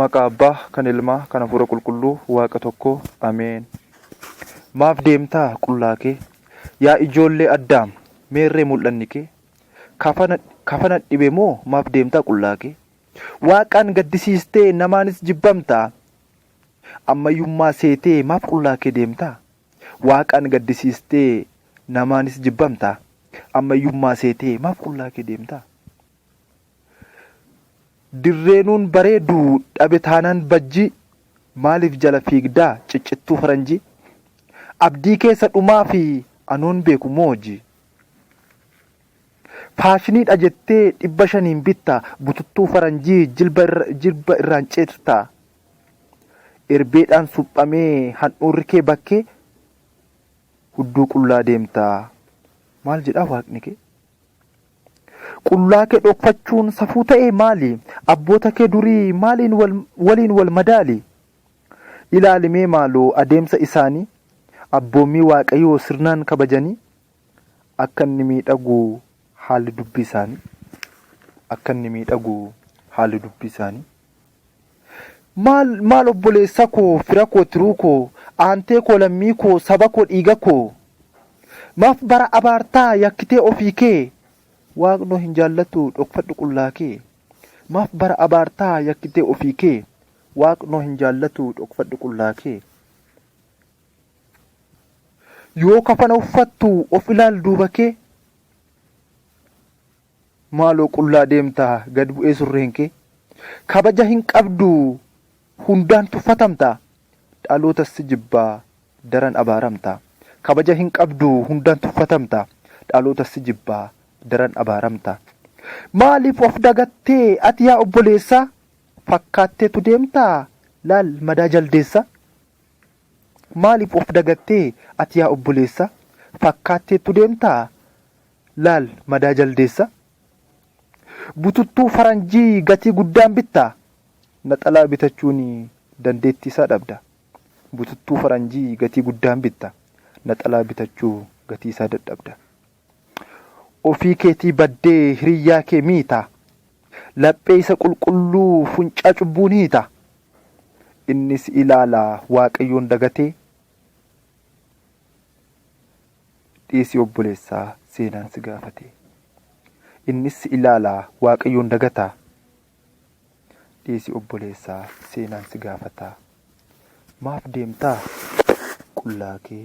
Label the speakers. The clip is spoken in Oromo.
Speaker 1: Maqaa Abbaa, kan Ilmaa, kan Hafuura Qulqulluu, Waaqa tokko. Ameen. Maaf deemtaa qullaa kee? Yaa ijoollee Addaam, meerree mul'anni kee? Kafana, kafana dhibe moo maaf deemtaa qullaa kee? Waaqaan gaddisiistee namaanis jibbamtaa? Ammayyummaa seetee maaf qullaa kee deemtaa? Waaqaan gaddisiistee namaanis jibbamtaa? Ammayyummaa seetee maaf qullaa kee deemtaa? Dirree nuun bareedu dhabe taanaan bajjii Maaliif jala fiigda ciccittuu faranjii Abdii kee isa dhumaa fi anoon beeku moo hojii Faashinii dha jettee dhibba shaniin bitta Bututtuu faranjii jilba irraan cirta Erbeedhaan suphamee handhuurri kee bakkee Hudduu qullaa deemta maal jedhaa waaqni kee. Qullaa kee dhokfachuun safuu ta'e maali? Abboota kee durii maaliin wal, waliin wal madaali? Ilaali mee maaloo adeemsa isaanii, abboommii Waaqayyoo sirnaan kabajanii, akka inni miidhagu haalli dubbii isaanii, akka inni miidhagu haalli dubbii isaanii. Maal maal obboleessa koo fira koo tiruu koo aantee koo lammii koo saba koo dhiiga koo Maaf bara abaartaa yakkitee ofii kee Waaqnoo hin jaallatuu dhokfadhu qullaa kee Maaf bara abaartaa yakkitee ofii kee Waaqnoo hin jaallatuu dhokfadhu qullaa kee Yoo kafana uffattu of ilaal duuba kee. Maaloo qullaa deemta gad bu'ee surreen kee Kabaja hin qabdu hundaan tuffatamta Dhalootas si jibba daran abaaramta Kabaja hin qabdu hundaan tuffatamta Dhalootas si jibba daran abaaramta Maaliif of dagattee ati yaa obboleessa Fakkaatteetu deemta laal madaa jaldeessa Maaliif of dagattee ati yaa obboleessa Fakkaatteetu deemta Laal madaa jaldeessa. Bututtuu faranjii gatii guddaan bittaa? Naxalaa bitachuun dandeettii isaa dhabda. Bututtuu faranjii gatii guddaan bitta. Naxalaa bitachuu gatii isaa dadhabda. Ofii keetii baddee hiriyyaa kee miita. Laphee isa qulqulluu funcaa cubbuun hiita. Inni si ilaala Waaqayyoon dagatee? Dhiisi obboleessaa seenaan si gaafatee. Innis si ilaalaa waaqayyoon dagataa. Dhiisi obboleessaa seenaan si gaafataa. Maaf deemtaa qullaa kee.